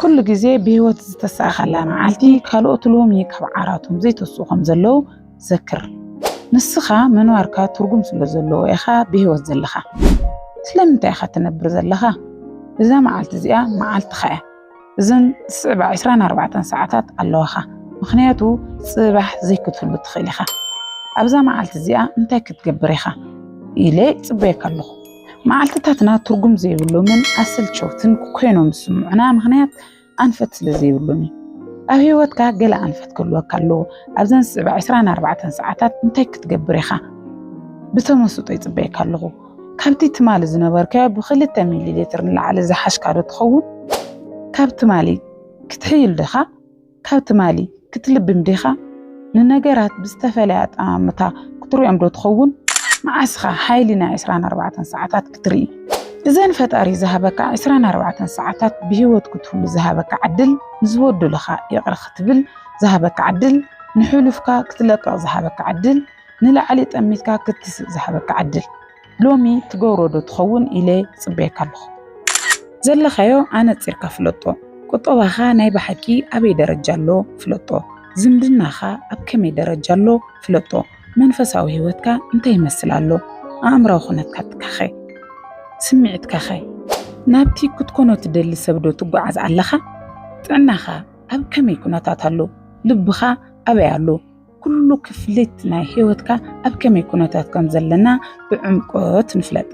ኩሉ ግዜ ብህይወት ዝተሳእኸላ መዓልቲ ካልኦት ሎሚ ካብ ዓራቶም ዘይተስኡ ከም ዘለዉ ዘክር። ንስኻ ምንባርካ ትርጉም ስለ ዘለዎ ኢኻ ብህይወት ዘለኻ። ስለምንታይ ኢኻ ትነብር ዘለኻ? እዛ መዓልቲ እዚኣ መዓልትኻ እያ። እዘን ዝስዕባ 24 ሰዓታት ኣለዋኻ። ምክንያቱ ጽባሕ ዘይክትህሉ ትኽእል ኢኻ። ኣብዛ መዓልቲ እዚኣ እንታይ ክትገብር ኢኻ ኢለ ይጽበየካ ኣለኹ። መዓልትታትና ትርጉም ዘይብሎምን ኣሰልቸውትን ኮይኖም ዝስምዑና ምኽንያት ኣንፈት ስለ ዘይብሎም እዩ። ኣብ ህይወትካ ገለ ኣንፈት ክህልወካ ኣለዎ። ኣብዘን ዝስዕባ 24 ሰዓታት እንታይ ክትገብር ኢኻ? ብተመስጦ ይጽበየካ ኣለኹ። ካብቲ ትማሊ ዝነበርካዮ ብክልተ ሚሊ ሊትር ንላዕሊ ዝሓሽካዶ ትኸውን? ካብ ትማሊ ክትሕይል ዲኻ? ካብ ትማሊ ክትልብም ዲኻ? ንነገራት ብዝተፈለየ ኣጠማምታ ክትሪኦም ዶ ትኸውን? መዓስኻ ሓይሊ ናይ ዕስራን ኣርባዕተን ሰዓታት ክትርኢ? እዘን ፈጣሪ ዝሃበካ ዕስራን ኣርባዕተን ሰዓታት ብህይወት ክትህሉ ዝሃበካ ዕድል፣ ንዝበደሉኻ ይቕረ ክትብል ዝሃበካ ዕድል፣ ንሕሉፍካ ክትለቅቕ ዝሃበካ ዕድል፣ ንላዕሊ ጠሚትካ ክትስእ ዝሃበካ ዕድል። ሎሚ ትገብሮ ዶ ትኸውን ኢለ ይጽበየካ ኣለኹ። ዘለኻዮ ኣነጺርካ ፍለጦ። ቁጠባኻ ናይ ብሓቂ ኣበይ ደረጃ ኣሎ ፍለጦ። ዝምድናኻ ኣብ ከመይ ደረጃ ኣሎ ፍለጦ። መንፈሳዊ ህይወትካ እንታይ ይመስል ኣሎ? ኣእምራዊ ኩነታትካኸ? ስምዒትካኸ? ናብቲ ክትኮኖ ትደሊ ሰብ ዶ ትጓዓዝ ኣለኻ? ጥዕናኻ ኣብ ከመይ ኩነታት ኣሎ? ልብኻ ኣበይ ኣሎ? ኩሉ ክፍሊት ናይ ህይወትካ ኣብ ከመይ ኩነታት ከም ዘለና ብዕምቆት ንፍለጥ።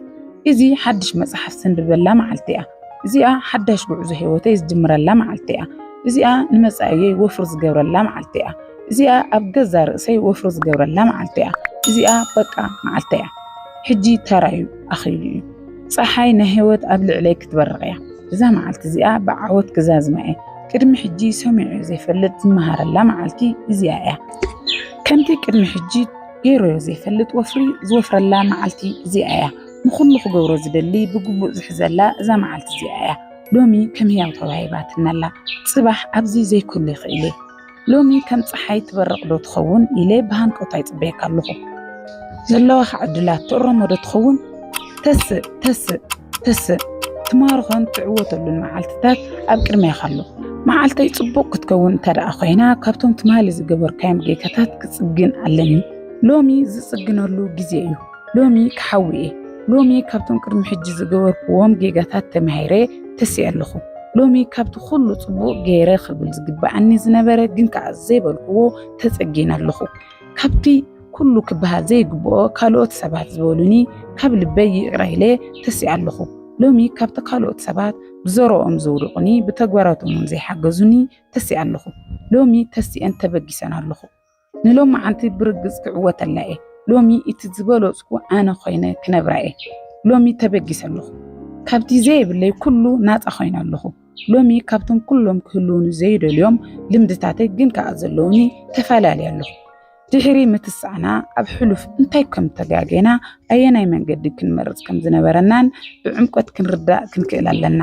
እዚ ሓድሽ መጽሓፍ ዘንብበላ መዓልቲ እያ። እዚኣ ሓዳሽ ጉዕዞ ህይወተይ ዝጅምረላ መዓልቲ እያ። እዚኣ ንመጻእየይ ወፍሪ ዝገብረላ መዓልቲ እያ። እዚኣ ኣብ ገዛ ርእሰይ ወፍሪ ዝገብረላ መዓልቲ እያ። እዚኣ በቃ መዓልቲ እያ። ሕጂ ተራዩ ኣኺሉ እዩ። ፀሓይ ናይ ህይወት ኣብ ልዕለይ ክትበርቕ እያ። እዛ መዓልቲ እዚኣ ብዓወት ክዛዝማ እየ ቅድሚ ሕጂ ሰሚዑ ዘይፈልጥ ዝመሃረላ መዓልቲ እዚኣ እያ ከምቲ ቅድሚ ሕጂ ገይሮዮ ዘይፈልጥ ወፍሪ ዝወፍረላ መዓልቲ እዚኣ እያ ንኹሉ ክገብሮ ዝደሊ ብግቡእ ዝሕዘላ እዛ መዓልቲ እዚኣ እያ ሎሚ ከም ህያው ተዋሂባትናላ ጽባሕ ኣብዚ ዘይክሉ ይኽእል ሎሚ ከም ፀሓይ ትበርቕ ዶ ትኸውን ኢለ ብሃንቀውታ ይፅበየካ ኣለኹ። ዘለዋኻ ዕድላት ትእረሞ ዶ ትኸውን? ተስእ ተስእ ተስእ ትማርኾን ትዕወተሉን መዓልትታት ኣብ ቅድሜኻ ኣሎ። መዓልተይ ጽቡቕ ክትከውን እንተ ደኣ ኮይና ካብቶም ትማሊ ዝገበርካዮም ጌጋታት ክጽግን ኣለኒ። ሎሚ ዝጽግነሉ ግዜ እዩ። ሎሚ ክሓዊ እየ ሎሚ ካብቶም ቅድሚ ሕጂ ዝገበርክዎም ጌጋታት ተማሂረ ተሲኤ ኣለኹ ሎሚ ካብቲ ኩሉ ጽቡቕ ገይረ ክብል ዝግብኣኒ ዝነበረ ግን ከኣ ዘይበልክዎ ተጸጊነ ኣለኹ ካብቲ ኩሉ ክበሃል ዘይግብኦ ካልኦት ሰባት ዝበሉኒ ካብ ልበይ ይቕረ ኢለ ተሲኣ ኣለኹ ሎሚ ካብቲ ካልኦት ሰባት ብዘረኦም ዘውድቑኒ ብተግባራቶም እውን ዘይሓገዙኒ ተሲኣ ኣለኹ ሎሚ ተሲኤን ተበጊሰን ኣለኹ ንሎማዓንቲ ብርግጽ ክዕወተላ እየ ሎሚ እቲ ዝበለጽኩ ኣነ ኮይነ ክነብራ እየ ሎሚ ተበጊሰ ኣለኹ ካብቲ ዘይብለይ ኩሉ ናጻ ኮይነ ኣለኹ ሎሚ ካብቶም ኩሎም ክህልውኒ ዘይደልዮም ልምድታተይ ግን ከኣ ዘለውኒ ተፈላለየ ኣለኹ ድሕሪ ምትሳዕና ኣብ ሕሉፍ እንታይ ከም ተጋጌና ኣየናይ መንገዲ ክንመርጽ ከም ዝነበረናን ብዕምቆት ክንርዳእ ክንክእል ኣለና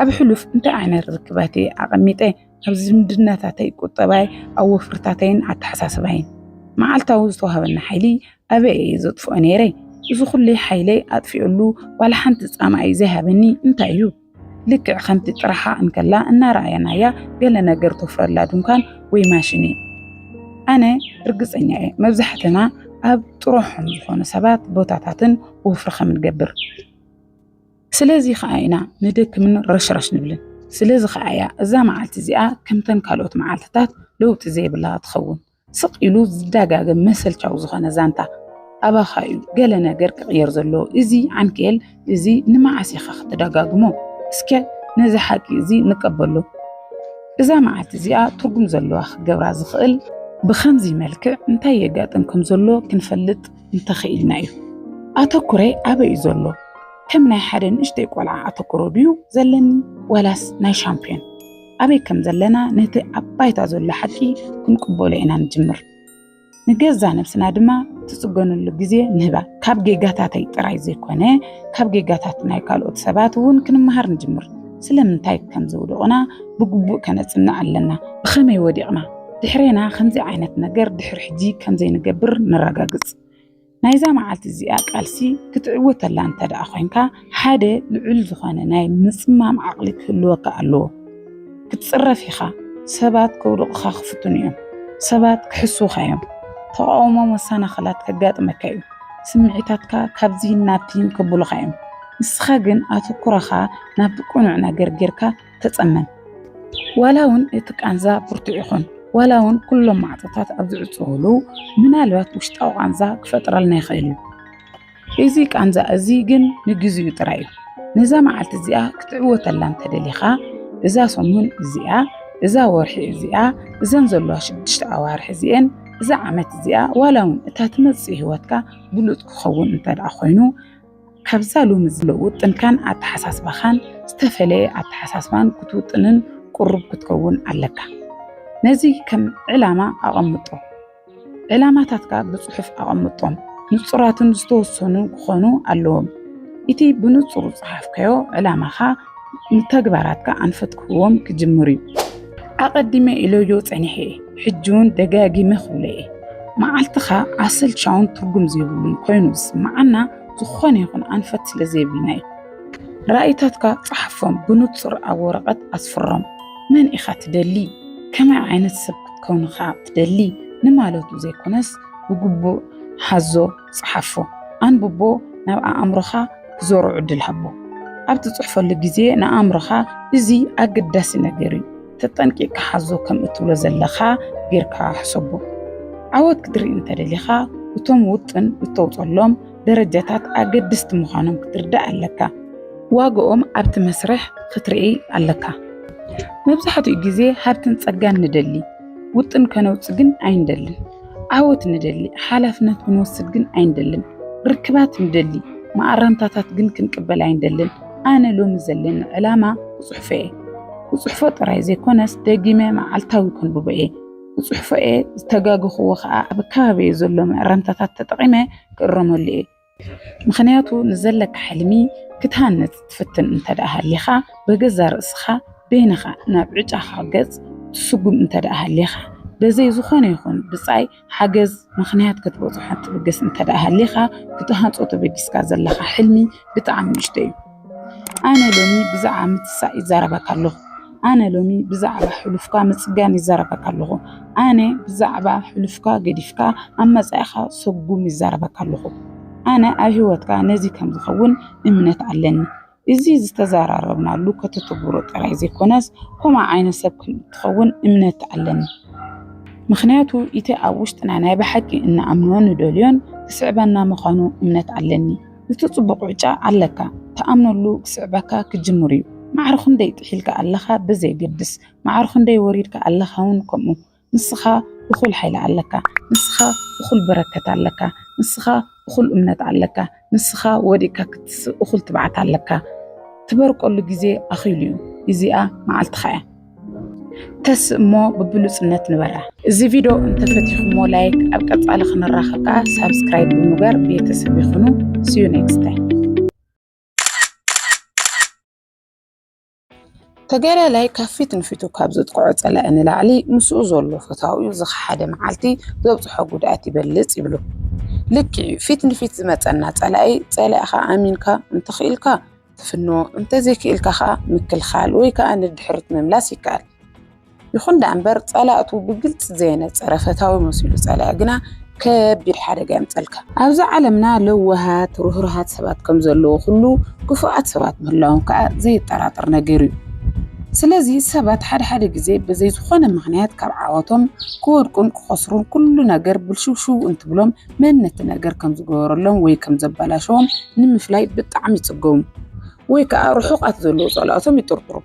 ኣብ ሕሉፍ እንታይ ዓይነት ርክባቴ ኣቐሚጠ ኣብ ዝምድናታተይ፣ ቁጠባይ፣ ኣብ ወፍርታተይን ኣተሓሳስባይን መዓልታዊ ዝተዋህበኒ ሓይሊ ኣበይ እየ ዘጥፍኦ ነይረ? እዚ ኩሉ ሓይለይ ኣጥፊኡሉ ዋላ ሓንቲ ጻማ'ዩ ዘይሃበኒ እንታይ እዩ? ልክዕ ከምቲ ጥራሓ እንከላ እናረኣናያ ገለ ነገር ተፍርየላ ድንኳን ወይ ማሽን እዩ። ኣነ ርግጸኛ እየ መብዛሕትና ኣብ ጥሩሖም ዝኾኑ ሰባት፣ ቦታታትን ወፍሪ ከም ንገብር። ስለዚ ከዓ ኢና ንደክምን ረሽራሽ ንብልን። ስለዚ ከዓ እያ እዛ መዓልቲ እዚኣ ከምተን ካልኦት መዓልትታት ለውጢ ዘይብላ ትኸውን። ስቕ ኢሉ ዝደጋገም መሰልቻዊ ዝኾነ ዛንታ ኣባኻ እዩ ገለ ነገር ክቕየር ዘለዎ። እዚ ዓንኬል እዚ ንመዓስ ኢኻ ክትደጋግሞ? እስከ ነዚ ሓቂ እዚ ንቀበሎ። እዛ መዓልቲ እዚኣ ትርጉም ዘለዋ ክገብራ ዝኽእል ብከምዚ መልክዕ እንታይ የጋጥም ከም ዘሎ ክንፈልጥ እንተኽኢልና እዩ። ኣተኩረይ ኣበይ እዩ ዘሎ? ከም ናይ ሓደ ንእሽተይ ቆልዓ ኣተኩሮ ድዩ ዘለኒ ዋላስ ናይ ሻምፕዮን? ኣበይ ከም ዘለና ነቲ ኣብ ባይታ ዘሎ ሓቂ ክንቅበሎ ኢና ንጅምር። ንገዛ ነብስና ድማ ትጽገነሉ ግዜ ንህባ ካብ ጌጋታተይ ጥራይ ዘይኮነ ካብ ጌጋታት ናይ ካልኦት ሰባት እውን ክንመሃር ንጅምር ስለምንታይ ከም ዘውደቑና ብግቡእ ከነጽንዕ ኣለና ብኸመይ ወዲቕና ድሕሬና ከምዚ ዓይነት ነገር ድሕሪ ሕጂ ከም ዘይንገብር ነረጋግጽ። ናይዛ መዓልቲ እዚኣ ቃልሲ ክትዕወተላ እንተ ደኣ ኮንካ ሓደ ልዑል ዝኾነ ናይ ምጽማም ዓቕሊ ክህልወካ ኣለዎ። ክትጽረፍ ኢኻ። ሰባት ከውድቑኻ ክፍትኑ እዮም። ሰባት ክሕስዉኻ እዮም። ተቓውሞ መሰናኽላት ከጋጥመካ እዩ። ስምዒታትካ ካብዚህን ናብቲህን ከብሉኻ እዮም። ንስኻ ግን ኣተኩሮኻ ናብቲ ቅኑዕ ነገር ጌርካ ተጸመም። ዋላ እውን እቲ ቃንዛ ብርቱዕ ይኹን፣ ዋላ እውን ኩሎም ማዕጾታት ኣብ ዝዕጽውሉ፣ ምናልባት ውሽጣዊ ቃንዛ ክፈጥረልና ይኽእል እዩ። እዚ ቃንዛ እዚ ግን ንግዚኡ ጥራይ እዩ። ነዛ መዓልቲ እዚኣ ክትዕወተላ እንተደሊኻ እዛ ሰሙን እዚኣ እዛ ወርሒ እዚኣ እዘን ዘለዋ ሽዱሽተ ኣዋርሒ እዚኤን እዛ ዓመት እዚኣ ዋላ እውን እታ ትመፅእ ሂወትካ ብሉፅ ክኸውን እንተደኣ ኮይኑ ካብዛ ሎሚ ዝለውጥንካን ኣተሓሳስባኻን ዝተፈለየ ኣተሓሳስባን ክትውጥንን ቅሩብ ክትከውን ኣለካ። ነዚ ከም ዕላማ ኣቐምጦ። ዕላማታትካ ብጽሑፍ ኣቐምጦም። ንጹራትን ዝተወሰኑ ክኾኑ ኣለዎም። እቲ ብንጹር ዝጸሓፍካዮ ዕላማኻ ንተግባራትካ ኣንፈት ክህቦም ክጅምር እዩ ኣቐዲመ ኢለዮ ጸኒሐ እየ ሕጂ እውን ደጋጊመ ክብሎ እየ መዓልትኻ ኣሰልቻውን ትርጉም ዘይብሉን ኮይኑ ዝስምዓና ዝኾነ ይኹን ኣንፈት ስለ ዘይብልና እዩ ራእይታትካ ጸሓፎም ብንጹር ኣብ ወረቐት ኣስፍሮም መን ኢኻ ትደሊ ከመይ ዓይነት ሰብ ክትከውንኻ ትደሊ ንማለቱ ዘይኮነስ ብግቡእ ሓዞ ጽሓፎ፣ ኣንብቦ፣ ናብ ኣእምሮኻ ክዞሮ ዕድል ሃቦ። ኣብ ትጽሕፈሉ ግዜ ንኣእምሮኻ እዚ ኣገዳሲ ነገር እዩ፣ ተጠንቂቕካ ሓዞ ከም እትብሎ ዘለኻ ጌርካ ሕሰቦ። ዓወት ክትርኢ እንተ ደሊኻ እቶም ውጥን እተውጸሎም ደረጃታት ኣገድስቲ ምዃኖም ክትርዳእ ኣለካ። ዋጋኦም ኣብቲ መስርሕ ክትርኢ ኣለካ። መብዛሕትኡ ግዜ ሃብትን ጸጋን ንደሊ፣ ውጥን ከነውጽእ ግን ኣይንደልን። ዓወት ንደሊ፣ ሓላፍነት ክንወስድ ግን ኣይንደልን። ርክባት ንደሊ፣ መኣረምታታት ግን ክንቅበል ኣይንደልን። ኣነ ሎሚ ዘለኒ ዕላማ ክጽሕፎ እየ። ክጽሕፎ ጥራይ ዘይኮነስ ደጊመ መዓልታዊ ከንብቦ እየ። ክጽሕፎ እየ፣ ዝተጋገኽዎ ከኣ ኣብ ከባቢየ ዘሎ መእረምታታት ተጠቒመ ክእረመሉ እየ። ምኽንያቱ ንዘለካ ሕልሚ ክትሃንጽ ትፍትን እንተደኣ ሃሊኻ በገዛ ርእስኻ በይንኻ ናብ ዕጫኻ ገጽ ትስጉም እንተደኣ ሃሊኻ በዘይ ዝኾነ ይኹን ብጻይ ሓገዝ ምኽንያት ክትበጽሖ ትብገስ እንተደኣ ሃሊኻ ክትሃንጾ ተበጊስካ ዘለኻ ሕልሚ ብጣዕሚ ንእሽቶ እዩ። ኣነ ሎሚ ብዛዕባ ምትሳእ ይዛረበካ ኣለኹ። ኣነ ሎሚ ብዛዕባ ሕሉፍካ ምፅጋን ይዛረበካ ኣለኹ። ኣነ ብዛዕባ ሕሉፍካ ገዲፍካ ኣብ መፃኢኻ ሰጉም ይዛረበካ ኣለኹ። ኣነ ኣብ ሂወትካ ነዚ ከምዝኸውን እምነት ኣለኒ። እዚ ዝተዘራረብናሉ ከተተግብሮ ጥራይ ዘይኮነስ ከምኡ ዓይነት ሰብ ከምእትኸውን እምነት ኣለኒ። ምኽንያቱ እቲ ኣብ ውሽጥና ናይ ብሓቂ እንኣምኖን ንደልዮን ክስዕበና ምዃኑ እምነት ኣለኒ። እቲ ጽቡቕ ዕጫ ኣለካ ትኣምነሉ ክስዕበካ ክጅምር እዩ። ማዕረ ክንደይ ጥሒልካ ኣለኻ ብዘየገድስ፣ ማዕረ ክንደይ ወሪድካ ኣለኻ ውን ከምኡ። ንስኻ እኹል ሓይሊ ኣለካ፣ ንስኻ እኹል በረከት ኣለካ፣ ንስኻ እኹል እምነት ኣለካ፣ ንስኻ ወዲቅካ ክትስእ እኹል ትብዓት ኣለካ። ትበርቀሉ ግዜ ኣኺሉ እዩ። ኢዚኣ መዓልትኻ እያ። ተስ እሞ ብብሉፅነት ንበራ እዚ ቪድዮ እንተፈቲኹሞ ላይክ ኣብ ቀፃሊ ክንራኸብ ከዓ ሳብስክራይብ ብምግባር ቤተሰብ ይኹኑ ስዩ ኔክስት ታይም ተጋዳላይ ካብ ፊት ንፊቱ ካብ ዘጥቅዖ ፀላኢ ንላዕሊ ምስኡ ዘሎ ፈታዊኡ ዝኸሓደ መዓልቲ ዘብፅሖ ጉድኣት ይበልፅ ይብሉ ልክዕ እዩ ፊት ንፊት ዝመፀና ፀላኢ ፀላኢኻ ኣሚንካ እንተኽኢልካ ትፍኖ እንተዘይክኢልካ ከኣ ምክልኻል ወይ ከኣ ንድሕሪት ምምላስ ይከኣል። ይኹን ደኣ እምበር ጸላእቱ ብግልጺ ዘየነጸረ ፈታዊ መሲሉ ጸላኢ ግና ከቢድ ሓደጋ የምጸልካ። ኣብዛ ዓለምና ለዋሃት ርህሩሃት ሰባት ከም ዘለዎ ኩሉ ክፉኣት ሰባት ምህላዎም ከኣ ዘየጠራጥር ነገር እዩ። ስለዚ ሰባት ሓደ ሓደ ግዜ ብዘይ ዝኾነ ምኽንያት ካብ ዓወቶም ክወድቁን ክኸስሩን ኩሉ ነገር ብልሽውሽው እንትብሎም መን ነቲ ነገር ከም ዝገበረሎም ወይ ከም ዘበላሸዎም ንምፍላይ ብጣዕሚ ይጽገሙ ወይ ከኣ ርሑቓት ዘለዉ ጸላእቶም ይጥርጥሩ።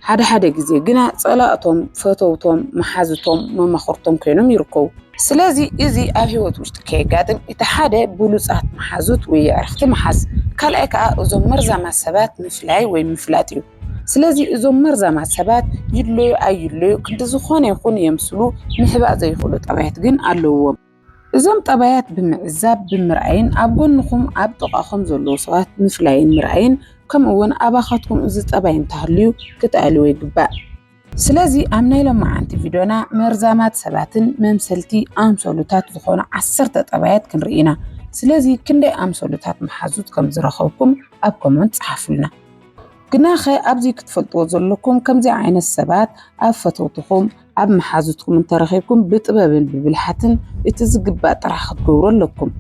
ሓደ ሓደ ግዜ ግና ጸላእቶም ፈተውቶም፣ መሓዙቶም፣ መማኽርቶም ኮይኖም ይርከቡ። ስለዚ እዚ ኣብ ህይወት ውሽጢ ከየጋጥም እቲ ሓደ ብሉጻት መሓዙት ወይ የዕርኽቲ ምሓዝ፣ ካልኣይ ከኣ እዞም መርዛማት ሰባት ምፍላይ ወይ ምፍላጥ እዩ። ስለዚ እዞም መርዛማት ሰባት ይድለዩ ኣይድለዩ ክንዲ ዝኾነ ይኹን የምስሉ ምሕባእ ዘይኽእሉ ጠባያት ግን ኣለዉዎም። እዞም ጠባያት ብምዕዛብ ብምርኣይን ኣብ ጎንኹም ኣብ ጥቓኹም ዘለዉ ሰባት ምፍላይን ምርኣይን ከምኡ ውን ኣባኻትኩም እዚ ጠባይ እንተሃልዩ ክትኣልዎ ይግባእ። ስለዚ ኣብ ናይ ሎማዓንቲ ቪድዮና መርዛማት ሰባትን መምሰልቲ ኣምሰሉታት ዝኾኑ ዓሰርተ ጠባያት ክንርኢ ኢና። ስለዚ ክንደይ ኣምሰሉታት መሓዙት ከም ዝረኸብኩም ኣብ ኮመንት ጸሓፉልና። ግናኸ ኣብዚ ክትፈልጥዎ ዘለኩም ከምዚ ዓይነት ሰባት ኣብ ፈተውትኹም፣ ኣብ መሓዙትኩም እንተረኺብኩም ብጥበብን ብብልሓትን እቲ ዝግባእ ጥራሕ ክትገብሩ ኣለኩም።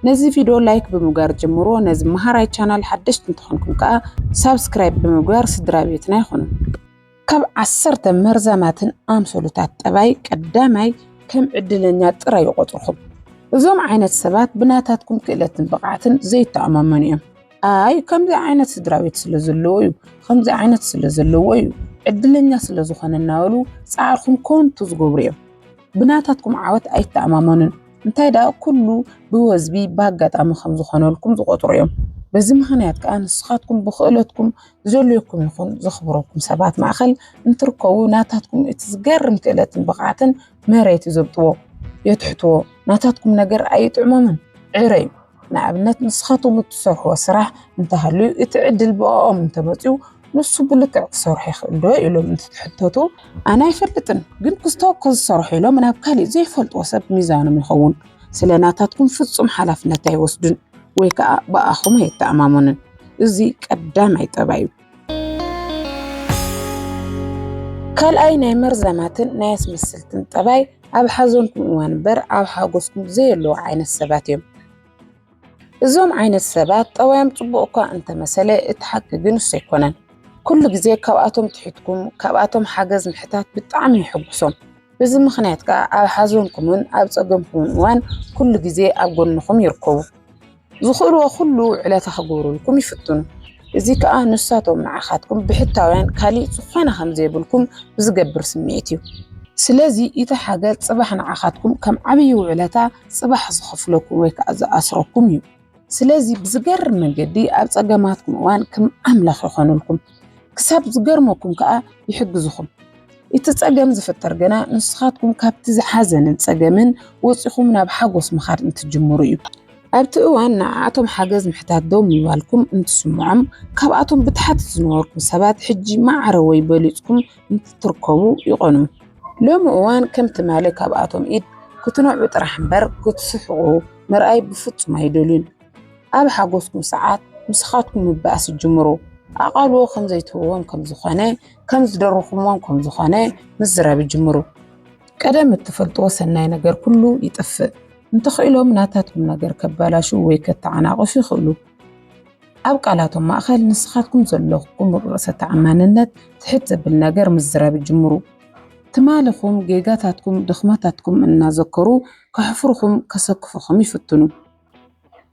ነዚ ቪድዮ ላይክ ብምግባር ጀምሮ ነዚ መሃራይ ቻናል ሓደሽቲ እንተኾንኩም ከዓ ሳብስክራይብ ብምግባር ስድራ ቤትና ይኹኑ። ካብ ዓሰርተ መርዛማትን ኣምሰሉታት ጠባይ ቀዳማይ ከም ዕድለኛ ጥራይ ይቆፅርኹም። እዞም ዓይነት ሰባት ብናታትኩም ክእለትን ብቕዓትን ዘይተኣማመኑ እዮም። ኣይ ከምዚ ዓይነት ስድራ ቤት ስለ ዘለዎ እዩ ከምዚ ዓይነት ስለ ዘለዎ እዩ ዕድለኛ ስለ ዝኾነ እናበሉ ፃዕርኹም ኮንቱ ዝገብሩ እዮም ብናታትኩም ዓወት ኣይተኣማመኑን እንታይ ደኣ ኩሉ ብወዝቢ ብኣጋጣሚ ከም ዝኾነልኩም ዝቆፅሩ እዮም በዚ ምክንያት ከዓ ንስኻትኩም ብክእለትኩም ዘለኩም ይኹን ዘኽብረኩም ሰባት ማእኸል እንትርከቡ ናታትኩም እቲ ዝገርም ክእለትን ብቕዓትን መሬት ይዘብጥዎ የትሕትዎ ናታትኩም ነገር ኣይጥዕሞምን ዕረ እዩ ንኣብነት ንስኻቶም እትሰርሕዎ ስራሕ እንተሃልዩ እቲ ዕድል ብኦም እንተመፅኡ ንሱ ብልክዕ ክሰርሑ ይኽእል ዶ ኢሎም እንትትሕተቱ ኣነ ኣይፈልጥን ግን ክስተው ከዝሰርሑ ኢሎም ናብ ካሊእ ዘይፈልጥዎ ሰብ ሚዛኖም ይኸውን ስለ ናታትኩም ፍፁም ሓላፍነት ኣይወስዱን ወይ ከዓ ብኣኹም ኣይተኣማመኑን እዚ ቀዳማይ ጠባይ እዩ። ካልኣይ ናይ መርዛማትን ናይ ኣስመስልትን ጠባይ ኣብ ሓዘንኩም እዋን እምበር ኣብ ሓጎስኩም ዘየለዉ ዓይነት ሰባት እዮም። እዞም ዓይነት ሰባት ጠባዮም ጽቡቕ እኳ እንተመሰለ እቲ ሓቂ ግን እሱ ኣይኮነን። ኩሉ ግዜ ካብኣቶም ትሕትኩም ካብኣቶም ሓገዝ ምሕታት ብጣዕሚ ይሕጉሶም። በዚ ምኽንያት ከዓ ኣብ ሓዘንኩምን ኣብ ጸገምኩምን እዋን ኩሉ ግዜ ኣብ ጎንኹም ይርከቡ። ዝኽእልዎ ኩሉ ውዕለታ ክግብሩልኩም ይፍትኑ። እዚ ከኣ ንሳቶም ንዓኻትኩም ብሕታውያን ካሊእ ዝኾነ ከም ዘይብልኩም ብዝገብር ስምዒት እዩ። ስለዚ እቲ ሓገዝ ጽባሕ ንዓኻትኩም ከም ዓብይ ውዕለታ ጽባሕ ዝኸፍለኩም ወይ ከኣ ዝኣስረኩም እዩ። ስለዚ ብዝገርም መንገዲ ኣብ ጸገማትኩም እዋን ክም ኣምላኽ ይኾኑልኩም። ክሳብ ዝገርመኩም ከኣ ይሕግዝኹም። እቲ ጸገም ዝፍጠር ግና ንስኻትኩም ካብቲ ዝሓዘንን ጸገምን ወጺኹም ናብ ሓጎስ ምኻድ እንትጅምሩ እዩ። ኣብቲ እዋን ንዓኣቶም ሓገዝ ምሕታት ደው ምባልኩም እንትስምዖም፣ ካብኣቶም ብታሕቲ ዝነበርኩም ሰባት ሕጂ ማዕረ ወይ በሊጽኩም እንትትርከቡ ይቐንዩ። ሎሚ እዋን ከም ትማሊ ካብኣቶም ኢድ ክትነዕቁ ጥራሕ እምበር ክትስሕቑ ምርኣይ ብፍጹም ኣይደልዩን። ኣብ ሓጎስኩም ሰዓት ንስኻትኩም ምባኣስ ዝጅምሩ ኣቓልዎ ከም ዘይትህብዎም ከም ዝኾነ ከም ዝደረኹምዎም ከም ዝኾነ ምዝራብ ይጅምሩ። ቀደም እትፈልጥዎ ሰናይ ነገር ኩሉ ይጥፍእ። እንተኽኢሎም ናታትኩም ነገር ከባላሹ ወይ ከተዓናቕፉ ይኽእሉ። ኣብ ቃላቶም ማእኸል ንስኻትኩም ዘለኹም ርእሰ ተኣማንነት ትሕት ዘብል ነገር ምዝራብ ይጅምሩ። ትማልኹም፣ ጌጋታትኩም፣ ድኽመታትኩም እናዘከሩ ከሕፍርኹም፣ ከሰክፍኹም ይፍትኑ።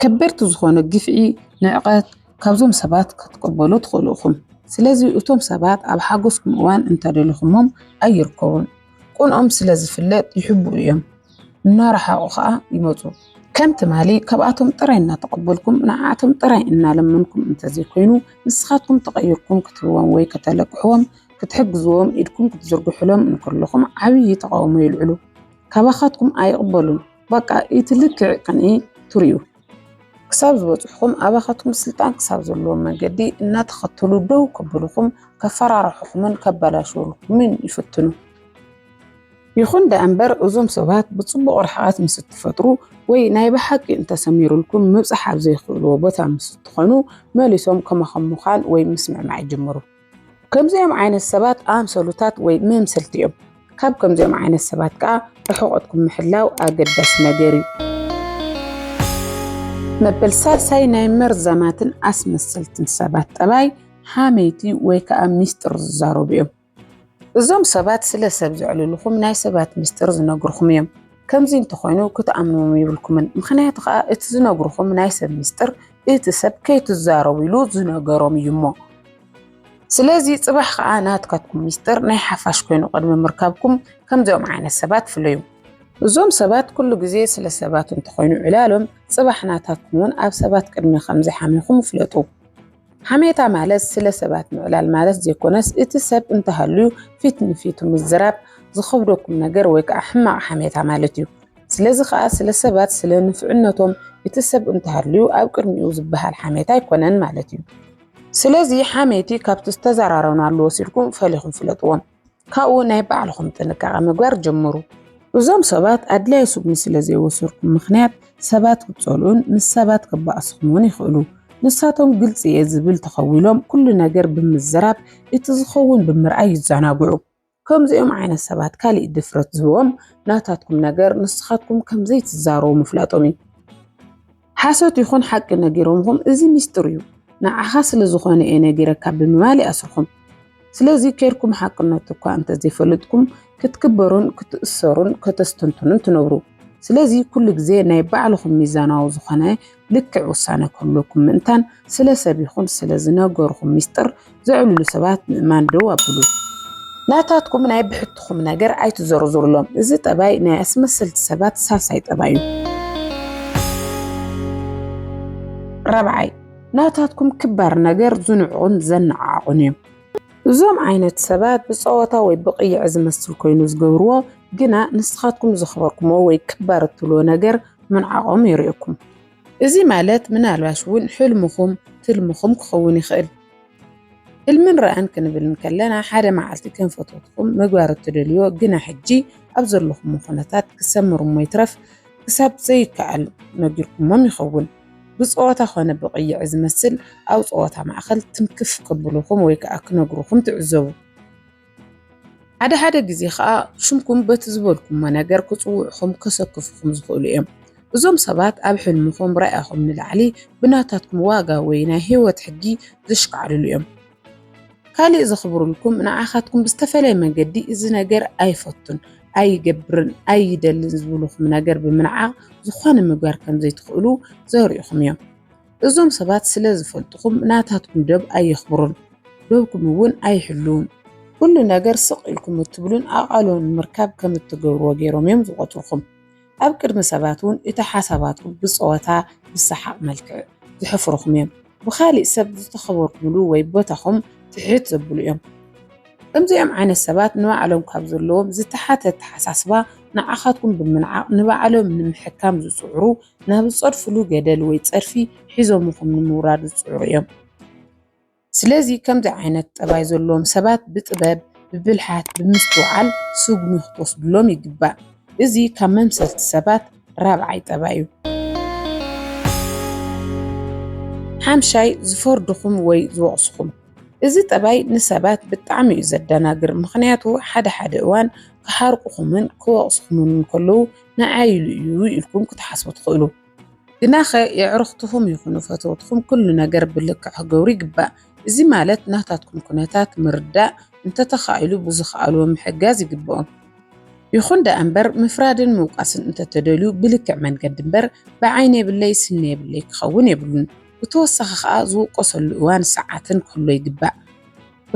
ከበድቲ ዝኾኑ ግፍዒ፣ ንዕቀት ካብዞም ሰባት ክትቅበሉ ትኽእሉ ኢኹም። ስለዚ እቶም ሰባት ኣብ ሓጎስኩም እዋን እንተደሊኹሞም ኣይርከቡን። ቅንኦም ስለ ዝፍለጥ ይሕብኡ እዮም፣ እናረሓቑ ኸኣ ይመጹ። ከም ትማሊ ካብኣቶም ጥራይ እናተቐበልኩም፣ ንዓኣቶም ጥራይ እናለመንኩም እንተዘይኮይኑ፣ ንስኻትኩም ተቐይርኩም ክትህብዎም ወይ ከተለቅሕዎም፣ ክትሕግዝዎም ኢድኩም ክትዝርግሑሎም እንከለኹም ዓብዪ ተቓውሞ የልዕሉ። ካባኻትኩም ኣይቕበሉን። በቃ ኢቲ ልክዕ ቅንኢ ትሪኡ ክሳብ ዝበፅሑኹም ኣባኻትኩም ስልጣን ክሳብ ዘለዎም መንገዲ እናተኸተሉ ደው ከብሉኹም ከፈራርሑኹምን ከበላሽውልኩምን ይፍትኑ። ይኹን ደኣ እምበር እዞም ሰባት ብጽቡቕ ርሕቐት ምስ እትፈጥሩ ወይ ናይ ብሓቂ እንተሰሚሩልኩም ምብጻሕ ኣብ ዘይክእልዎ ቦታ ምስ እትኾኑ መሊሶም ከማኹም ምዃን ወይ ምስምዕማዕ ይጅምሩ። ከምዚኦም ዓይነት ሰባት ኣምሰሉታት ወይ መምሰልቲ እዮም። ካብ ከምዚኦም ዓይነት ሰባት ከዓ ርሕቐትኩም ምሕላው ኣገዳሲ ነገር እዩ። መበል ሳልሳይ ናይ መርዛማትን ኣስመሰልትን ሰባት ጠባይ ሓመይቲ ወይ ከዓ ሚስጥር ዝዛረቡ እዮም። እዞም ሰባት ስለ ሰብ ዘዕልልኹም ናይ ሰባት ሚስጥር ዝነግርኹም እዮም። ከምዚ እንተኾይኑ ክትኣምንዎም ይብልኩምን ምኽንያቱ ከኣ እቲ ዝነግርኹም ናይ ሰብ ምስጢር እቲ ሰብ ከይትዛረቡ ኢሉ ዝነገሮም እዩ እሞ ስለዚ ጽባሕ ከኣ ናትካትኩም ምስጢር ናይ ሓፋሽ ኮይኑ ቅድሚ ምርካብኩም ከምዚኦም ዓይነት ሰባት ፍለዩ እዞም ሰባት ኩሉ ግዜ ስለ ሰባት እንተኾይኑ ዕላሎም ጽባሕ ናታትኩም እውን ኣብ ሰባት ቅድሚ ከምዘይሓሚኹም ፍለጡ። ሓሜታ ማለት ስለ ሰባት ምዕላል ማለት ዘይኮነስ እቲ ሰብ እንተሃልዩ ፊት ንፊቱ ምዝራብ ዝኸብደኩም ነገር ወይ ከዓ ሕማቕ ሓሜታ ማለት እዩ። ስለዚ ከዓ ስለ ሰባት ስለ ንፍዕነቶም እቲ ሰብ እንተሃልዩ ኣብ ቅድሚኡ ዝበሃል ሓሜታ ኣይኮነን ማለት እዩ። ስለዚ ሓሜቲ ካብቲ ዝተዘራረብናሉ ወሲድኩም ፈሊኹም ፍለጥዎም። ካብኡ ናይ ባዕልኹም ጥንቃቐ ምግባር ጀምሩ። እዞም ሰባት ኣድላይ ስጉሚ ስለ ዘይወሰድኩም ምኽንያት ሰባት ክጸልኡን ምስ ሰባት ክባኣስኹም ውን ይኽእሉ። ንሳቶም ግልጺ እየ ዝብል ተኸዊሎም ኩሉ ነገር ብምዝራብ እቲ ዝኸውን ብምርኣይ ይዛናግዑ። ከምዚኦም ዓይነት ሰባት ካሊእ ድፍረት ዝህቦም ናታትኩም ነገር ንስኻትኩም ከም ዘይትዛረቡ ምፍላጦም እዩ። ሓሶት ይኹን ሓቂ ነጊሮምኹም እዚ ሚስጥር እዩ ንዓኻ ስለ ዝኾነ እየ ነጊረካ ብምባል ይኣስርኹም። ስለዚ ኬርኩም ሓቅነቱ እኳ እንተዘይፈለጥኩም ክትክበሩን ክትእሰሩን ከተስተንትኑን ትነብሩ። ስለዚ ኩሉ ግዜ ናይ ባዕልኹም ሚዛናዊ ዝኾነ ልክዕ ውሳነ ክህልወኩም ምእንታን ስለ ሰብ ይኹን ስለ ዝነገርኹም ሚስጥር ዘዕልሉ ሰባት ምእማን ደው ኣብሉ። ናታትኩም ናይ ብሕትኹም ነገር ኣይትዘርዝሩሎም። እዚ ጠባይ ናይ ኣስመስልቲ ሰባት ሳልሳይ ጠባይ እዩ። ራብዓይ ናታትኩም ክባር ነገር ዝንዕቑን ዘነዓዕቑን እዮም። እዞም ዓይነት ሰባት ብጸወታ ወይ ብቕይዕ ዝመስል ኮይኑ ዝገብርዎ ግና ንስኻትኩም ዘኽበርኩሞ ወይ ክባር እትብልዎ ነገር ምንዓቖም የርእየኩም። እዚ ማለት ምናልባሽ እውን ሕልምኹም ትልምኹም ክኸውን ይኽእል። ህልምን ራእን ክንብል እንከለና ሓደ መዓልቲ ከም ፈተውትኹም ምግባር እትደልዮ ግና ሕጂ ኣብ ዘለኹሞ ኩነታት ክሰምር እሞ ይትረፍ ክሳብ ዘይከኣል ነጊርኩሞም ይኸውን ብጸወታ ኮነ ብቕይዒ ዝመስል ኣብ ጸወታ ማእከል ትንክፍ ክብሉኹም ወይ ከኣ ክነግሩኹም ትዕዘቡ። ሓደ ሓደ ግዜ ኸኣ ሽምኩም በቲ ዝበልኩሞ ነገር ክጽውዑኹም ከሰክፉኹም ዝኽእሉ እዮም። እዞም ሰባት ኣብ ሕልምኹም ራኢኹም ንላዕሊ ብናታትኩም ዋጋ ወይ ናይ ህይወት ሕጊ ዘሽካዕልሉ እዮም። ካልእ ዘኽብሩልኩም ንዓኻትኩም ብዝተፈለየ መንገዲ እዚ ነገር ኣይፈቱን፣ ኣይገብርን፣ ኣይደልን ዝብሉኹም ነገር ብምንዓቕ ዝኾነ ምግባር ከምዘይትኽእሉ ዘርእኹም እዮም። እዞም ሰባት ስለ ዝፈልጥኹም ናታትኩም ዶብ ኣየኽብሩን፣ ዶብኩም እውን ኣይሕልዉን። ኩሉ ነገር ስቕ ኢልኩም እትብሉን ኣቓልቦ ንምርካብ ከም እትገብርዎ ገይሮም እዮም ዝቖጽሩኹም። ኣብ ቅድሚ ሰባት እውን እቲ ሓሳባትኩም ብጸወታ፣ ብሰሓቕ መልክዕ ዝሕፍሩኹም እዮም። ብኻሊእ ሰብ ዝተኸበርኩምሉ ወይ ቦታኹም ትሕት ዘብሉ እዮም። ከምዚኦም ዓይነት ሰባት ንባዕሎም ካብ ዘለዎም ዝተሓተ ኣተሓሳስባ ንዓኻትኩም ብምንዓቕ ንባዕሎም ንምሕካም ዝጽዕሩ ናብ ዝጸድፍሉ ገደል ወይ ጸድፊ ሒዞምኹም ንምውራድ ዝጽዕሩ እዮም። ስለዚ ከምዚ ዓይነት ጠባይ ዘለዎም ሰባት ብጥበብ፣ ብብልሓት፣ ብምስትውዓል ስጉሚ ክትወስድሎም ይግባእ። እዚ ካብ መምሰልቲ ሰባት ራብዓይ ጠባይ እዩ። ሓምሻይ፣ ዝፈርዱኹም ወይ ዝወቕሱኹም። እዚ ጠባይ ንሰባት ብጣዕሚ እዩ ዘደናግር፣ ምኽንያቱ ሓደ ሓደ እዋን ክሓርቁኹምን ክወቕሱኹምን እንከለዉ ንዓይ ኢሉ እዩ ኢልኩም ክትሓስቡ ትኽእሉ። ግናኸ የዕሩኽትኹም ይኹኑ ፈተውትኹም ኩሉ ነገር ብልክዕ ክገብሩ ይግባእ። እዚ ማለት ናታትኩም ኩነታት ምርዳእ፣ እንተተኻኢሉ ብዝኸኣልዎ ምሕጋዝ ይግበኦም። ይኹን ደኣ እምበር ምፍራድን ምውቃስን እንተተደልዩ ብልክዕ መንገዲ እምበር ብዓይኒ የብለይ ስኒ የብለይ ክኸውን የብሉን። ብተወሳኺ ከኣ ዝውቀሰሉ እዋን ሰዓትን ክህሎ ይግባእ።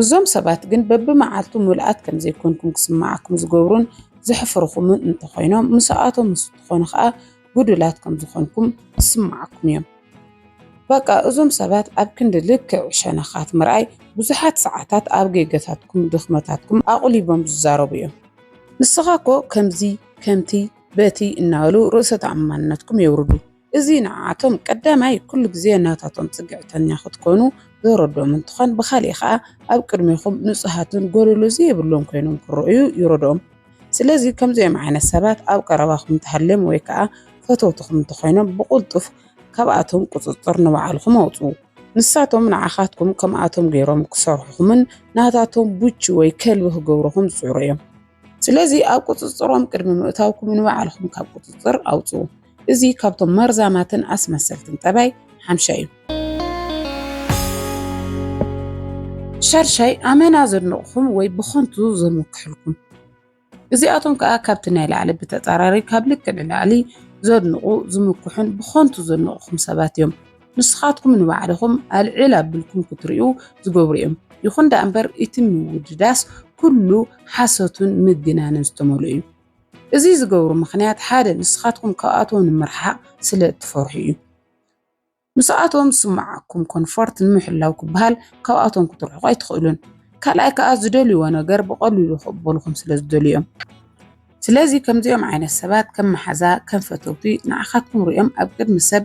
እዞም ሰባት ግን በብመዓልቱ ምሉኣት ከም ዘይኮንኩም ክስምዓኩም ዝገብሩን ዘሕፍርኹምን እንተኾይኖም፣ ምስኣቶም ምስ እትኾኑ ከኣ ጉዱላት ከም ዝኾንኩም ክስምዓኩም እዮም። በቃ እዞም ሰባት ኣብ ክንዲ ልክዕ ሸነኻት ምርኣይ፣ ብዙሓት ሰዓታት ኣብ ጌጋታትኩም ድኽመታትኩም ኣቑሊቦም ዝዛረቡ እዮም። ንስኻ እኮ ከምዚ ከምቲ በቲ እናበሉ ርእሰ ተኣማንነትኩም የውርዱ። እዚ ንዓኣቶም ቀዳማይ ኩሉ ግዜ ናታቶም ጽግዕተኛ ክትኮኑ ዘረድኦም እንትኾን ብኻሊእ ኸኣ ኣብ ቅድሜኹም ንጹሃትን ጎደሎ ዘይብሎም ኮይኖም ክረኣዩ ይረድኦም። ስለዚ ከምዚኦም ዓይነት ሰባት ኣብ ቀረባኹም እንተሃልዮም ወይ ከኣ ፈተውትኹም እንተኾይኖም ብቕልጡፍ ካብኣቶም ቁጽጽር ንባዕልኹም ኣውጽኡ። ንሳቶም ንዓኻትኩም ከምኣቶም ገይሮም ክሰርሑኹምን ናታቶም ቡቺ ወይ ከልቢ ክገብሩኹም ዝጽዕሩ እዮም። ስለዚ ኣብ ቁጽጽሮም ቅድሚ ምእታውኩም ንባዕልኹም ካብ ቁጽጽር ኣውጽኡ። እዚ ካብቶም መርዛማትን ኣስመሰልትን ጠባይ ሓምሻይ እዩ። ሻድሻይ ኣመና ዘድንቕኹም ወይ ብኸንቱ ዘምክሕልኩም እዚኣቶም ከዓ ካብቲ ናይ ላዕሊ ብተጻራሪ ካብ ልክ ንላዕሊ ዘድንቑ ዝምክሑን ብኸንቱ ዘድንቑኹም ሰባት እዮም ንስኻትኩም ንባዕልኹም ኣልዕል ኣብልኩም ክትሪኡ ዝገብሩ እዮም ይኹን ደኣ እምበር እቲ ምውድዳስ ኩሉ ሓሶትን ምግናንን ዝተመልኡ እዩ እዚ ዝገብሩ ምኽንያት ሓደ ንስኻትኩም ካብኣቶም ንምርሓቕ ስለ እትፈርሑ እዩ። ምስኣቶም ዝስምዓኩም ኮንፎርት ንምሕላው ክበሃል ካብኣቶም ክትርሕቁ ኣይትኽእሉን። ካልኣይ ከኣ ዝደልይዎ ነገር ብቐሊሉ ክቕበሉኹም ስለ ዝደልዩ እዮም። ስለዚ ከምዚኦም ዓይነት ሰባት ከም መሓዛ ከም ፈተውቲ ንዓኻትኩም ሪኦም ኣብ ቅድሚ ሰብ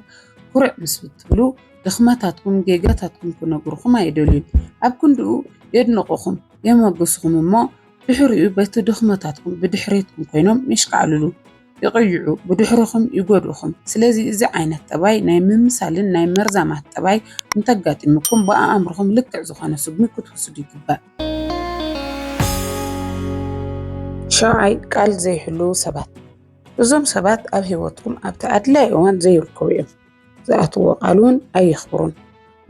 ኩርዕ ምስ እትብሉ ድኽመታትኩም ጌጋታትኩም ክነግሩኹም ኣይደልዩን። ኣብ ክንድኡ የድንቑኹም የሞግሱኹም እሞ ድሕሪኡ በቲ ድኽመታትኩም ብድሕሬትኩም ኮይኖም የሽካዕልሉ፣ ይቕይዑ፣ ብድሕርኹም ይጎድኡኹም። ስለዚ እዚ ዓይነት ጠባይ ናይ ምምሳልን ናይ መርዛማት ጠባይ እንተጋጢሙኩም ብኣእምርኹም ልክዕ ዝኾነ ስጉሚ ክትውስዱ ይግባእ። ሻውዓይ፣ ቃል ዘይሕልዉ ሰባት። እዞም ሰባት ኣብ ህይወትኩም ኣብቲ ኣድላዪ እዋን ዘይርከቡ እዮም። ዝኣትዎ ቃል እውን ኣየኽብሩን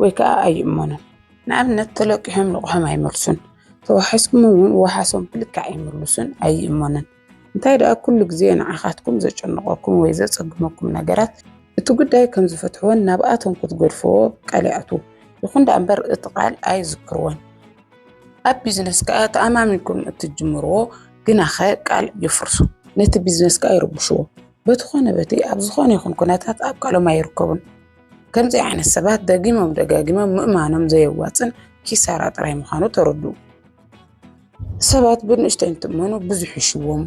ወይ ከዓ ኣይእመኑን። ንኣብነት ተለቂሖም ልቑሖም ኣይመልሱን፣ ተዋሒስኩም እውን ዋሓሶም ብልክዕ ኣይምልሱን፣ ኣይእመኑን። እንታይ ደኣ ኩሉ ግዜ ንዓኻትኩም ዘጨንቐኩም ወይ ዘፀግመኩም ነገራት እቲ ጉዳይ ከም ዝፈትሕዎን ናብኣቶም ክትገድፍዎ ቃል ይኣትዉ። ይኹን ደኣ እምበር እቲ ቃል ኣይዝክርዎን። ኣብ ቢዝነስ ከዓ ተኣማሚንኩም እትጅምርዎ ግናኸ ቃል የፍርሱ። ነቲ ቢዝነስ ከዓ ይርብሽዎ። በቲ ኾነ በቲ ኣብ ዝኾነ ይኹን ኩነታት ኣብ ቃሎም ኣይርከቡን። ከምዚ ዓይነት ሰባት ደጊሞም ደጋጊሞም ምእማኖም ዘየዋፅን ኪሳራ ጥራይ ምዃኑ ተረድኡ። ሰባት ብንእሽተይ እንትእመኑ ብዙሕ ይሽዎም።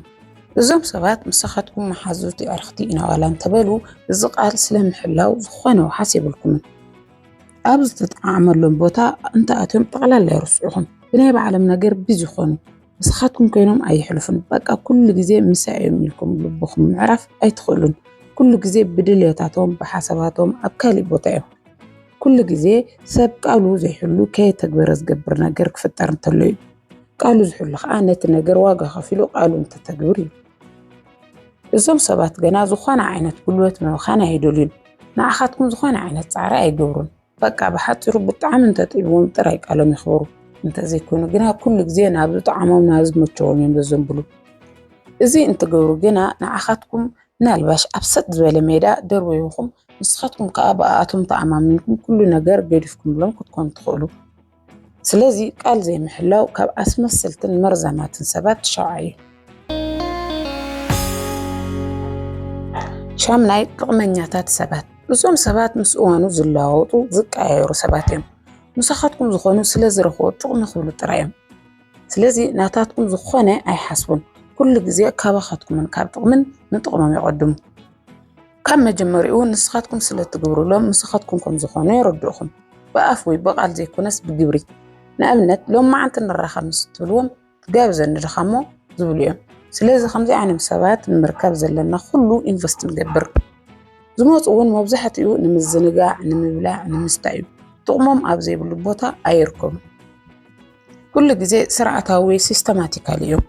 እዞም ሰባት ምሳኻትኩም መሓዙት የዕርኽቲ ኢና ዋላ እንተበሉ እዚ ቃል ስለምሕላው ዝኾነ ውሓስ የብልኩምን። ኣብ ዝተጠዓመሎም ቦታ እንተኣትዮም ጠቕላላ የርስዑኹም። ብናይ ባዕሎም ነገር ቢዚ ይኾኑ። ንስኻትኩም ኮይኖም ኣይሕልፉን በቃ ኩሉ ግዜ ምሳይ እዮም ኢልኩም ልብኹም ምዕራፍ ኣይትኽእሉን ኩሉ ግዜ ብድልዮታቶም ብሓሳባቶም ኣብ ካሊእ ቦታ እዮም ኩሉ ግዜ ሰብ ቃሉ ዘይሕሉ ከየተግበረ ዝገብር ነገር ክፍጠር እንተሎ እዩ ቃሉ ዝሕሉ ከዓ ነቲ ነገር ዋጋ ከፊሉ ቃሉ እንተተግብር እዩ እዞም ሰባት ገና ዝኾነ ዓይነት ጉልበት ምብኻን ኣይደልዩን ንዓኻትኩም ዝኾነ ዓይነት ፃዕሪ ኣይገብሩን በቃ ብሓፂሩ ብጣዕሚ እንተጥዒዎም ጥራይ ቃሎም ይኽበሩ እንተዘይኮይኑ ግና ኩሉ ግዜ ናብ ዝጠዓሞም ናብ ዝመቸዎም እዮም ዘዘንብሉ እዚ እንትገብሩ ግና ንዓኻትኩም ምናልባሽ ኣብ ሰጥ ዝበለ ሜዳ ደርበይኹም ንስኻትኩም ከዓ ብኣኣቶም ተኣማሚንኩም ኩሉ ነገር ገዲፍኩምሎም ክትኮኑ ትኽእሉ ስለዚ ቃል ዘይምሕላው ካብ ኣስመስልትን መርዛማትን ሰባት ትሸውዓዩ። ሻምናይ ጥቕመኛታት ሰባት እዞም ሰባት ምስ እዋኑ ዝለዋወጡ ዝቀያየሩ ሰባት እዮም። ምሳኻትኩም ዝኾኑ ስለ ዝረኽቦ ጥቕሚ ክብሉ ጥራይ እዮም። ስለዚ ናታትኩም ዝኾነ ኣይሓስቡን። ኩሉ ግዜ ካባኻትኩምን ካብ ጥቕምን ንጥቕሞም ይቐድሙ። ካብ መጀመሪኡ ንስኻትኩም ስለ እትግብሩሎም ንስኻትኩም ከም ዝኾኑ የረድኡኹም። ብኣፍ ወይ ብቓል ዘይኮነስ ብግብሪ። ንኣብነት ሎም መዓንቲ ንራኸብ ምስ እትብልዎም ትጋብዘኒ ድኻ እሞ ዝብሉ እዮም። ስለዚ ከምዚ ዓይነት ሰባት ንምርካብ ዘለና ኩሉ ኢንቨስት ንገብር። ዝመፁ እውን መብዛሕትኡ ንምዝንጋዕ፣ ንምብላዕ፣ ንምስታይ እዩ። ጥቕሞም ኣብ ዘይብሉ ቦታ ኣይርከቡን። ኩሉ ግዜ ስርዓታዊ ወይ ሲስተማቲካል እዮም።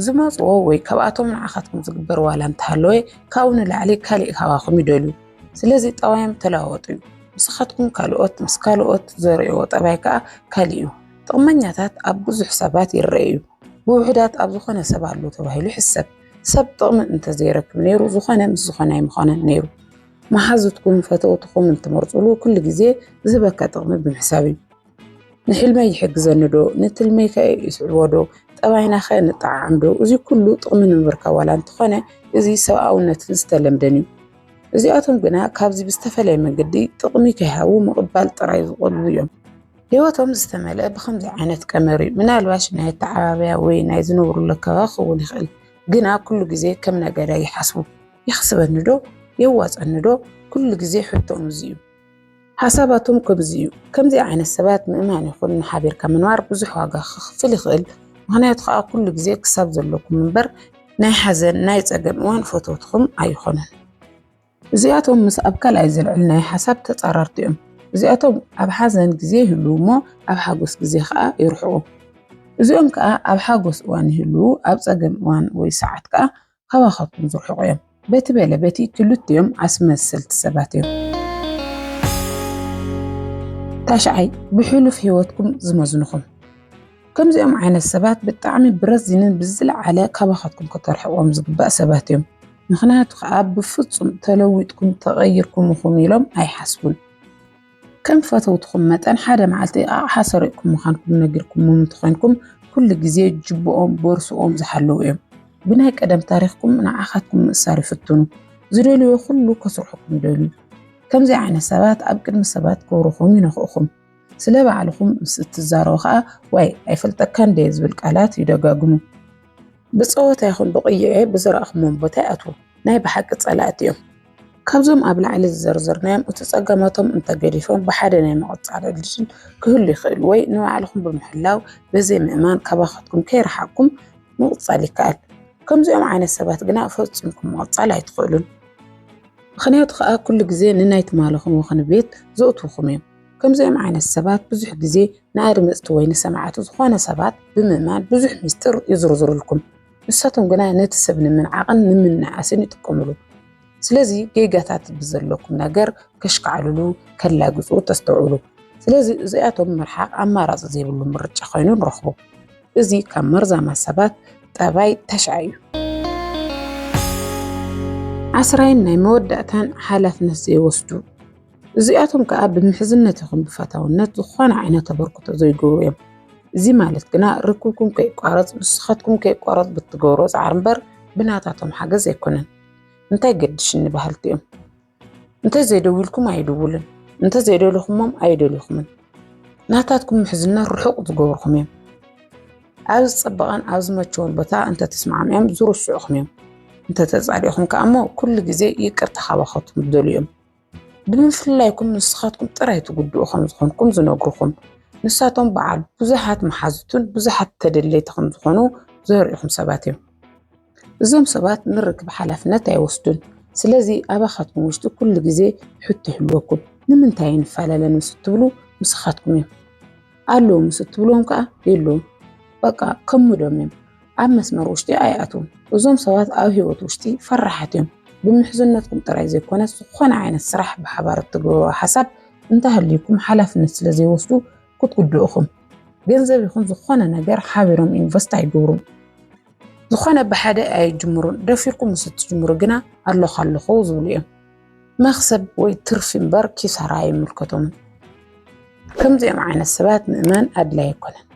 ዝመጽዎ ወይ ካብኣቶም ንዓኻትኩም ዝግበር ዋላ እንተሃለወ ካብኡ ንላዕሊ ካሊእ ካባኹም ይደልዩ። ስለዚ ጠባዮም ተለዋወጡ እዩ። ንስኻትኩም ካልኦት ምስ ካልኦት ዘርእዎ ጠባይ ከኣ ካልእ እዩ። ጥቕመኛታት ኣብ ብዙሕ ሰባት ይረኣዩ እዩ። ብውሑዳት ኣብ ዝኾነ ሰብ ኣሎ ተባሂሉ ይሕሰብ። ሰብ ጥቕሚ እንተዘይረክብ ነይሩ ዝኾነ ምስ ዝኾነ ኣይምኾነን ነይሩ። መሓዙትኩም ፈተውትኹም እንትመርጹሉ ኩሉ ግዜ ዝህበካ ጥቕሚ ብምሕሳብ እዩ። ንሕልመይ ይሕግዘኒ ዶ ንትልመይ ከ ይስዕቦ ዶ ጠባይና ከ ንጠዓዓም ዶ እዚ ኩሉ ጥቕሚ ንምርካብ ዋላ እንተኾነ እዚ ሰብኣውነትን ዝተለምደን እዩ እዚኣቶም ግና ካብዚ ብዝተፈለየ መንገዲ ጥቕሚ ከይሃቡ ምቕባል ጥራይ ዝቖልቡ እዮም ህይወቶም ዝተመልአ ብከምዚ ዓይነት ቀመር እዩ ምናልባሽ ናይ ኣተዓባብያ ወይ ናይ ዝነብሩሉ ኣከባቢ ክኸውን ይኽእል ግና ኩሉ ግዜ ከም ነጋዳይ ይሓስቡ የኽስበኒ ዶ የዋፀኒ ዶ ኩሉ ግዜ ሕቶኦም እዚ እዩ ሓሳባቶም ከምዚ እዩ። ከምዚ ዓይነት ሰባት ምእማን ይኹን ንሓቢርካ ምንባር ብዙሕ ዋጋ ክኽፍል ይኽእል። ምክንያቱ ከዓ ኩሉ ግዜ ክሳብ ዘለኩም እምበር ናይ ሓዘን ናይ ጸገም እዋን ፈተውትኹም ኣይኾኑን። እዚኣቶም ምስ ኣብ ካልኣይ ዘልዕል ናይ ሓሳብ ተጻራርቲ እዮም። እዚኣቶም ኣብ ሓዘን ግዜ ይህሉ እሞ ኣብ ሓጎስ ግዜ ከዓ ይርሕቁ። እዚኦም ከዓ ኣብ ሓጎስ እዋን ይህሉ ኣብ ጸገም እዋን ወይ ሰዓት ከዓ ካባኻትኩም ዝርሕቑ እዮም። በቲ በለ በቲ ክልቲኦም ኣስመስልቲ ሰባት እዮም። ታሽዓይ ብሕሉፍ ህይወትኩም ዝመዝንኹም ከምዚኦም ዓይነት ሰባት ብጣዕሚ ብረዚንን ብዝለዓለ ካባኻትኩም ከተርሕቆም ዝግባእ ሰባት እዮም። ምክንያቱ ከዓ ብፍፁም ተለዊጥኩም ተቐይርኩም ኢኹም ኢሎም ኣይሓስቡን። ከም ፈተውትኹም መጠን ሓደ መዓልቲ ኣቕሓ ሰሪቕኩም ምዃንኩም ነጊርኩምዎም እንተኾይንኩም ኩሉ ግዜ ጅብኦም ቦርስኦም ዝሓለዉ እዮም ብናይ ቀደም ታሪኽኩም ንዓኻትኩም ምእሳር ይፍትኑ ዝደልዮ ኩሉ ከስርሑኩም ደልዩ ከምዚ ዓይነት ሰባት ኣብ ቅድሚ ሰባት ክብርኹም ይነኽእኹም ስለ ባዕልኹም ምስ እትዛረቡ ከዓ ዋይ ኣይፈልጠካ እንደ ዝብል ቃላት ይደጋግሙ ብፀወታ ይኹን ብቕይዔ ብዘረእኹሞም ቦታ ይኣትዉ ናይ ብሓቂ ፀላእቲ እዮም ካብዞም ኣብ ላዕሊ ዝዘርዘርናዮም እቲ ጸገማቶም እንተገዲፎም ብሓደ ናይ መቐጻሊ ዕድል ክህሉ ይኽእል ወይ ንባዕልኹም ብምሕላው በዘይ ምእማን ካባኻትኩም ከይረሓቅኩም ምቕጻል ይከኣል። ከምዚኦም ዓይነት ሰባት ግና ፈጺምኩም ምቕጻል ኣይትኽእሉን። ምኽንያቱ ከዓ ኩሉ ግዜ ንናይ ትማልኹም ወኽኒ ቤት ዘእትውኹም እዮም። ከምዚኦም ዓይነት ሰባት ብዙሕ ግዜ ንኣድመጽቲ ወይ ንሰማዕቲ ዝኾነ ሰባት ብምእማን ብዙሕ ሚስጥር ይዝርዝሩልኩም። ንሳቶም ግና ነቲ ሰብ ንምንዓቕን ንምንእኣስን ይጥቀምሉ። ስለዚ ጌጋታት ብዘለኩም ነገር ከሽካዕልሉ ከላግጹ ተስተውዕሉ። ስለዚ እዚኣቶም ምርሓቕ ኣማራጺ ዘይብሉ ምርጫ ኮይኑ ንረኽቦ። እዚ ካብ መርዛማ ሰባት ጠባይ ተሽዓ እዩ። ዓስራይን ናይ መወዳእታን ሓላፍነት ዘይወስዱ እዚኣቶም ከዓ ብምሕዝነት ይኹን ብፈታውነት ዝኾነ ዓይነት ተበርክቶ ዘይገብሩ እዮም። እዚ ማለት ግና ርክብኩም ከይቋረፅ ንስኻትኩም ከይቋረፅ ብትገብሮ ፃዕሪ እምበር ብናታቶም ሓገዝ ኣይኮነን። እንታይ ገድሽኒ በሃልቲ እዮም። እንተዘይደዊልኩም ኣይድውልን፣ እንተዘይደለኹሞም ኣይደልኹምን። ናታትኩም ምሕዝነት ርሑቕ ዝገብርኹም እዮም። ኣብ ዝፀበቐን ኣብ ዝመቸውን ቦታ እንተተስማዕሚኦም ዝርስዑኹም እዮም። እንተተፃሊእኹም ከዓ እሞ ኩሉ ግዜ ይቅርታ ካባኻትኩም ዝደልዩ እዮም። ብምፍልላይኩም ንስኻትኩም ጥራይ ትጉድኡ ከም ዝኾንኩም ዝነግሩኹም ንሳቶም በዓል ብዙሓት መሓዙትን ብዙሓት ተደለይቲ ከም ዝኾኑ ዘርእኹም ሰባት እዮም። እዞም ሰባት ንርክብ ሓላፍነት ኣይወስዱን። ስለዚ ኣባኻትኩም ውሽጢ ኩሉ ግዜ ሕቶ ይህልወኩም ንምንታይ ንፈላለ ምስ እትብሉ ምስኻትኩም እዮም። ኣለዉ ምስ እትብሎም ከዓ የለዉን በቃ ከሙዶም እዮም ኣብ መስመር ውሽጢ ኣይኣትዉን እዞም ሰባት ኣብ ሂወት ውሽጢ ፈራሓት እዮም ብምሕዝነትኩም ጥራይ ዘይኮነ ዝኾነ ዓይነት ስራሕ ብሓባር እትገብርዎ ሓሳብ እንተሃልዩኩም ሓላፍነት ስለ ዘይወስዱ ክትጉድኡኹም ገንዘብ ይኹን ዝኾነ ነገር ሓቢሮም ኢንቨስት ኣይገብሩን ዝኾነ ብሓደ ኣይጅምሩን ደፊርኩም ምስ እትጅምሩ ግና ኣለኹ ኣለኹ ዝብሉ እዮም መኽሰብ ወይ ትርፊ እምበር ኪሳራ ኣይምልከቶምን። ከምዚኦም ዓይነት ሰባት ምእማን ኣድላይ ኣይኮነን።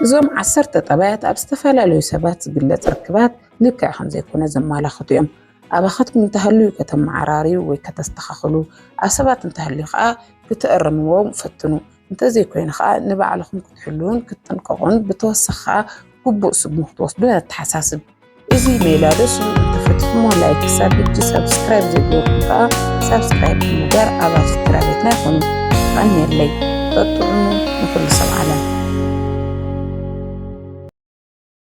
እዞም ዓሰርተ ጠባያት ኣብ ዝተፈላለዩ ሰባት ዝግለጽ ርክባት ልክዕ ከምዘይኮነ ዘመላኽቱ እዮም። ኣባኻትኩም እንተሃልዩ ከተመዓራርዩ ወይ ከተስተኻኽሉ፣ ኣብ ሰባት እንተሃልዩ ከዓ ክትእርምዎም ፈትኑ። እንተዘይኮይኑ ከዓ ንባዕልኹም ክትሕልዉን ክትጥንቀቑን ብተወሳኺ ከዓ ግቡእ ስጉም ክትወስዱን ኣተሓሳስብ። እዚ ሜላ ደስ ክትፍትሞ ላይክ ክሳብ ሕጂ ሳብስክራይብ ዘይገበርኩም ከዓ ሳብስክራይብ ብምግባር ኣባል ስድራ ቤትና ይኹኑ። ቀንየለይ በጥዑሙ ንኩሉ ሰብ ዓለም